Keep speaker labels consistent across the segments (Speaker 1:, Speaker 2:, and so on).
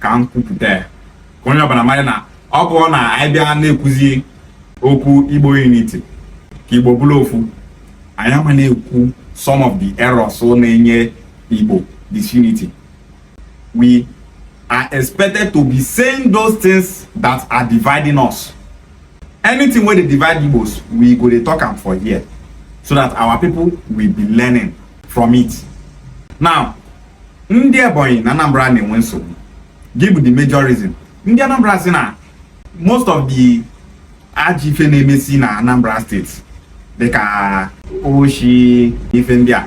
Speaker 1: ka m kwupụta ya ka onye ọbụla mara na ọ bụrụ na anyị bịa na-ekwuzi okwu igbo unity ka igbo bụrụ ofu anyị ama na-ekwu some of the errors na-enye igbo disunity we are expected to be saying those things that are dividing us anything wey dey divide igbos we go dey talk am for here so that our people will be learning from it now ndị Ebonyi na Anambra na-enwe nsogbu gị bụ the major reason ndị Anambra sị na most of the ajọ ife na-emesi na Anambra steeti dịka oshi ife ndị a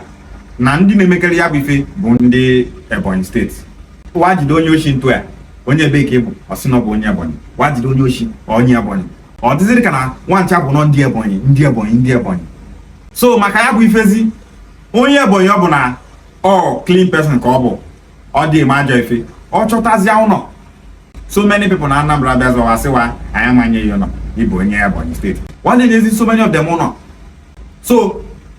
Speaker 1: na ndị na-emekarị ya bụ ife bụ ndị Ebonyi steeti wa jide onye oshi a jụ ya onye ebe ka ị bụ ọ sị na ọ bụ onye Ebonyi wa jide onye oshi onye Ebonyi ọ dịzịrị ka na wa ncha bụ nọ ndị Ebonyi ndị Ebonyi ndị Ebonyi so maka ya bụ ifezi onye Ebonyi ọbụna ọ clean person ka ọ bụ ọ dị eme ajọ ife ọ chọtazịa ụnọ so many people na Anambra bịazịa wa sị wa anyị ama enye gị ụnọ ị bụ onye Ebonyi steeti wa adị enyezi so many of them ụnọ so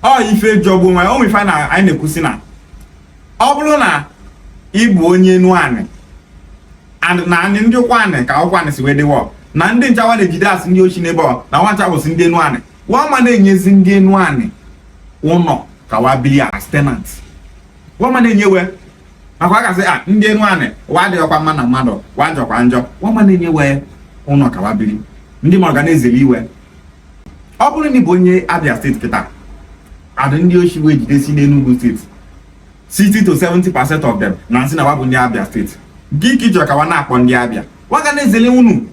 Speaker 1: ọ ife jọgbu onwe ya ife na anyị na-ekwusi na ọ bụrụ na ị bụ onye Enuani na anị ndị Ukwuani ka Ukwuani si wee dịwa na ndị ncha wa na-ejidesi ndị oshi n'ebe ọ na wa ncha bụsị ndị Enuani wa ama na-enyezi ndị Enuani ụnọ ka wa bili as tenant wa ama na-enye wa maka a ga-asị na ndị Enuani wa adịghịkwa mma na mmadụ wa jọkwa njọ wa ama na-enye wa ụnọ ka wa bili ndị mmadụ ga na-ezeli wa ọ bụrụ na ị bụ onye Abia steeti kịta adị ndị oshi wa jidesi n'Enugu steeti 60 to 70 percent of them na-asị na wa bụ ndị Abia steeti gị ka ị chọ ka wa na-akpọ ndị Abia wa ga na-ezeli unu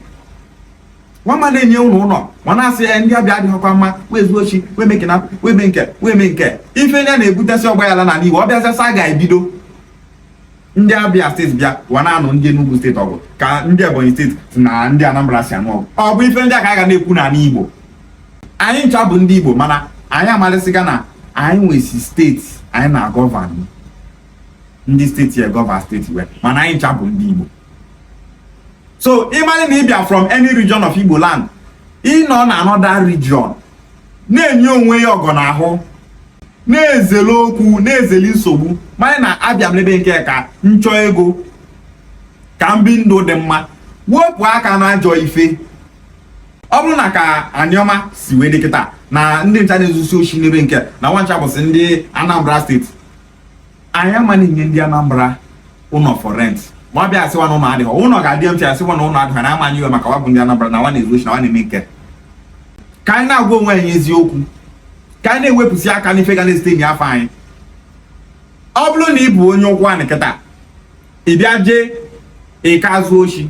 Speaker 1: wa ama na-enye unu ụnọ ma na-asị na ndị Abia adịghịkwa mma wee zuo oshi wee mee nke na wee mee nke wee mee nke ife ndị a na-ebutesị ọgbaghala n'ala Igbo ọ bịazịasị a ga-ebido ndị Abia steeti bịa wa na-anụ ndị Enugu steeti ọgụ ka ndị Ebonyi steeti na ndị Anambra si anụ ọgụ ọ bụ ife ndị a ka a ga na-ekwu n'ala Igbo anyị ncha bụ ndị Igbo mana anyị amalịsịgo na anyị nwesi steeti anyị na-agovern ndị steeti a govern steeti wa mana anyị ncha bụ ndị Igbo so ị mali na ị bịa from any region of Igbo land ị nọ na another region na-enye onwe ị ọgọ n'ahụ na-ezeli okwu na-ezeli nsogbu mali na abịa m n'ebe nke ka m chọ ego ka m bi ndụ dị mma wepụ aka na ajọ ife ọ bụrụ na ka Anioma si wee dị kịta na ndị ncha na-ezusi oshi n'ebe nke na wa ncha bụsị ndị Anambra steeti anyị ama na-enye ndị Anambra ụnọ for rent ma ọ bịa asị wa na ụnọ adịghị ụnọ ga-adị mfe asị wa na ụnọ adịghị na ama enye we maka wa bụ ndị Anambra na wa na-ezu oshi na wa na-eme nke ka anyị na-agwa onwe anyị eziokwu ka anyị na-ewepụsị aka n'ife ga na-esite unyi afa anyị ọ bụrụ na ị bụ onye Ụkwụanị kịta ị bịa jee Ika zuo oshi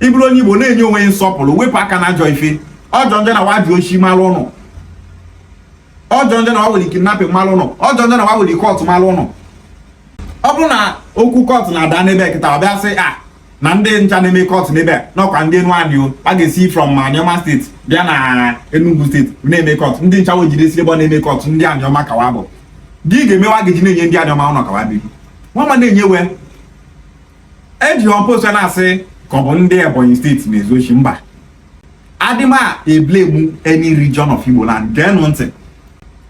Speaker 1: ị bụrụ onye igbo na-enye onwe yi nsọpụrụ wepụ aka na ajọ ife ọ jọ njọ na wa ji oshi malụ unu ọ jọ njọ na wa were kidnapping malụ unu ọ jọ njọ na wa were cult malụ unu ọ bụrụ na okwu cult na-ada n'ebe kịta ọ bịa sị a ah, na ndị ncha na-eme cult n'ebe n'ọkwa ndị Enuanị o a ga-esi from Anioma steeti bịa na Enugu steeti na-eme cult ndị ncha we jidesi ebe ọ na-eme cult ndị Anioma ka wa bụ gịnị ga-eme wa ga-eji na-enye ndị Anioma ụnọ ka wa biri wa ama na-enye we eji ọmposa na-asị ka ọ bụ ndị ebonyi steeti na-ezu oshi mba adị m eblemu any region of igbo land geenụ ntị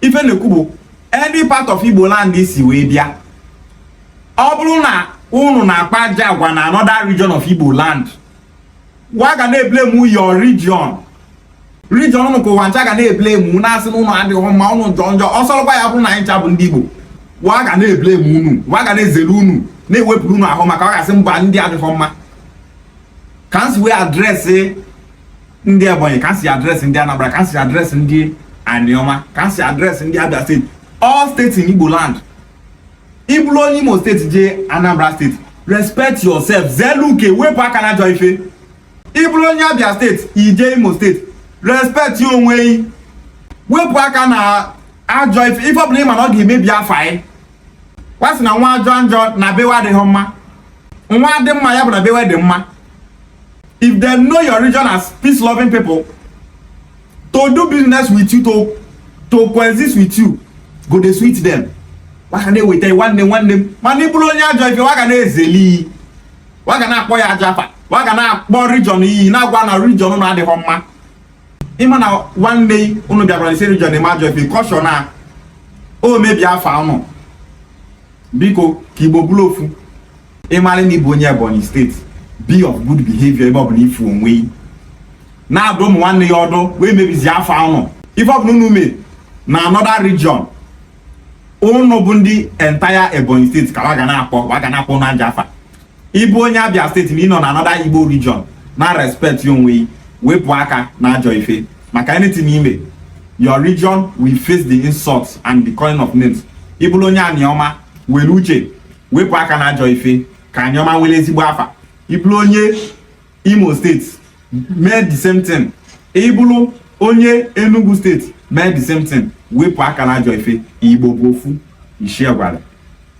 Speaker 1: ife na-ekwu bụ any part of igbo land si wee bịa ọ bụrụ na unu na-akpa ajọ agwa na another region of igbo land wa ga na-eblemu your region region unu ka ụwa ncha ga na-eblemu na-asị na unu adịghị mma unu jọ njọ ọ sọrọkwa ya bụrụ na anyị ncha bụ ndị Igbo wa ga na-eblemu unu wa ga na-ezere unu na-ewepụrụ unu ahụ maka ọ ga-asị mba ndị adịghị mma ka m si wee adresị ndị Ebonyi ka m si adresị ndị Anambra ka m si adresị ndị Aniọma ka m si adresị ndị Abia steeti all states in Igbo land ị bụrụ onye imo steeti jee anambra steeti respect yourself zelu uke wepụ aka na ajọ ife ị bụrụ onye abia steeti i jee imo steeti respectie onwe gị wepụ aka na ajọ ife ife ọbụla ị ma na ọ ga-emebi afa anyị wa sị na nwa jọ njọ na be wa adịghị mma nwa dị mma ya bụ na be wa dị mma if they know your region as peace loving people to do business with you to to coexist with you go dey sweet them wa ga na-eweta nwanne nwanne m mana ị bụrụ onye ajọ ife wa ga na-ezeli yi wa ga na-akpọ yi ajọ afa wa ga na-akpọ region yi na-agwa na region na adịghị mma ị ma na nwanne unu bịakwara isi region eme ajọ ife caution na o mebi afa unu biko ka igbo bụrụ ofu ị mara na ị bụ onye ebonyi steeti be of good behavior ebe ọbụla ị fụ onwe yi na-adụ ụmụ nwanne ya ọdụ we emebizi afa unu ife ọbụla unu mee na another region unu bụ ndị entire ebonyi steeti ka wa ga na-akpọ wa ga na-akpọ unu ajọ afa ịbụ onye abịa state na ịnọ na anọda igbo region na respect onwe yị wepụ aka na ajọ ife maka anything ime your region will face the insults and the calling of names ịbụrụ onye aniọma were uche wepụ aka na ajọ ife ka aniọma were ezigbo afa ịbụrụ onye imo state mee the same thing ịbụrụ onye enugu state mee the same thing wepụ aka na ajọ ife igbo bụ ofu ishiegwali